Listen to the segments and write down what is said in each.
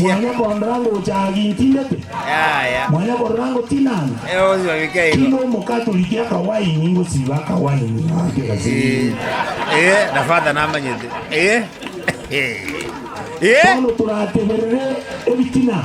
Mwanya korora ngocha agi ntindete? Mwanya korora ngotinana? Tiga Omokatoliki akawaini ngosiba akawaini ake gasiiri. Bono torateberere ebitina.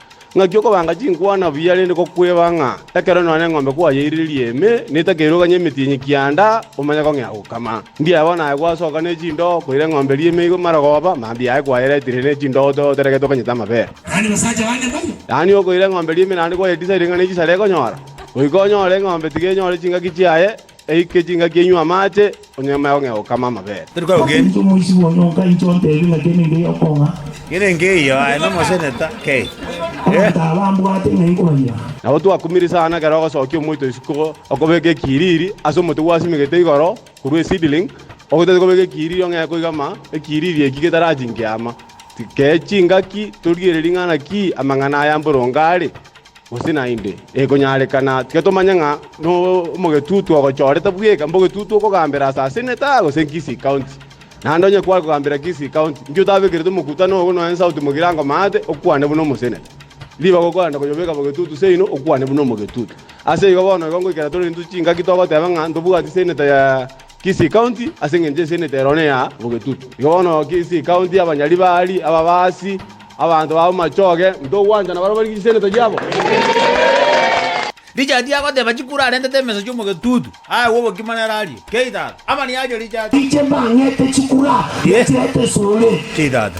Ng'aki okobanga chinkwana buya rende gokweba ng'a ekero nonya eng'ombe kwayeiririe ime na etakeirwe ganye emetienyi kianda, omanye kong'ea gokama. Ndiaye bono aye gwasoka ne chindoo koira eng'ombe eria ime igo amarogoba, mambia aye kwayeretire ne chindoo oteregete okonyete amabera. Yaani okoira eng'ombe eria ime naende kwayetisa ring'ana y'echisare ekonyora. Goika onyore eng'ombe tiga enyore chingaki chiaye. Eike chingaki enywe amache, onye mwegong'ea gokama amabere. Omonto omoisiku onye onkainche ontebie ng'a kene nkeya okong'a, abanto aba mbwate ng'ai nkobayira? Nabo twakumire sana ekero ogosokia omoito isiko okobeka ekiriri ase omote gwasimigete igoro korwa eseedling, ogotete kobeka ekiriri ong'ee koigama ekiriri eki getarachinke ama. Tikee chingaki torigererie ng'a naki amang'ana aya mboronge are. Gose naende ekonyarekana tiga tomanye ng'a nomogetutu ogochorete bweka, mbogetutu okogambera ase Aseneta gose Kisii County. Naende onye kware kogambera Kisii County, inki otabekerete omokutano ogo nonya inse agotumeka ere angomate, okwane buna Omoseneta? Ribaga okorenda koyobeka bogetutu seino, okwane buna omogetutu. Ase igo bono igo ngoikera tore intwe chingaki togoteba ng'a ntobwati Seneta ya. Kisii County, ase engencho esenete ero nea bogetutu. Igo bono Kisii County abanyari baari ababaasi, abanto ba bomachoge, ntogwanchana barabwo bari chisenete chiabo. Richard agoteba chikuru arentete emeso chi'omogetutu, aegwe obokima nere arie, Kei tata, amani aria Richard. Inche mbang'ete chikura, Richard tesore. Kei tata.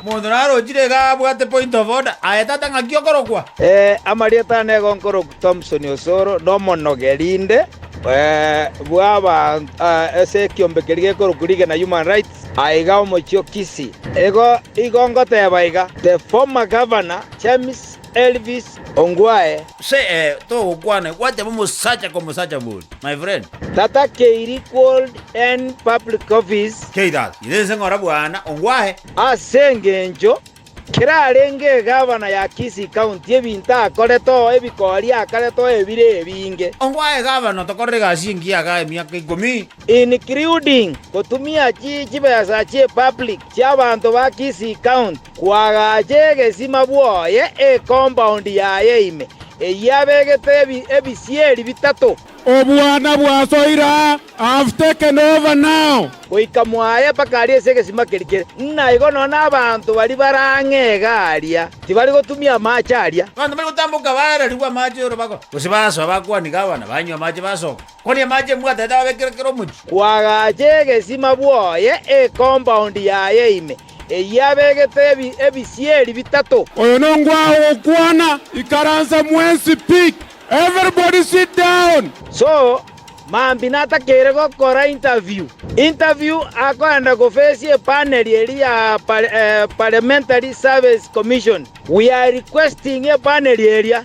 Omonto narochire iga abwate point of order, aye tatang'aki okorokwa. Amarieta aane nigo nkorokwa Thomson Osoro, na omonogeri inde bw'abanto ase ekiombe keria gekorokwa League na Human Rights, aiga omochie o Kisii. Igo ngoteeba iga, The former Governor James Elvis Ongwae. Gose ee, togokwana egwachama omosacha komosacha boria, my friend. Tata Keiri Called in Public Office. Keiras, ira inse ng'ora bwana, ongwahe. Ase engencho kerarenge egavana ya Kisii County ebinto akorete oo ebikori akarete oo ebire ebinge. Ongwahe egavana otokorere egasi engiya iga emiaka ikomi. Including gotumia chibesa chie public chiabanto ba Kisii County. Kwagacha egesima bwoye ekompaundi yaye ime, eyio abegete ebisieri bitato. Obwana bwasoire aa, I have taken over now. Goika mwaye mpaka aria ase egesima keria kere, ng'a igo nonya nabaanto baria bare ang'e iga aria tibari gotumia amaache aria. Abanto mbare gotamboka baararigwe amaache y'orobago, gose basoa bakwaniga abana banywa amaache basoka. Kore amache mbwatete ababekire kera omochie. Kwagacha egesima bwoye ekombaondi yaye ime, eyio abegete ebisieri bitato. Oyo nongwao gokwana, ikaransa mwensi pi! Everybody sit down! So, Mambi natakeire gokora interview. Interview akoenda gofesia epanel eria ya Parliamentary Service Commission. We are requesting epanel eria.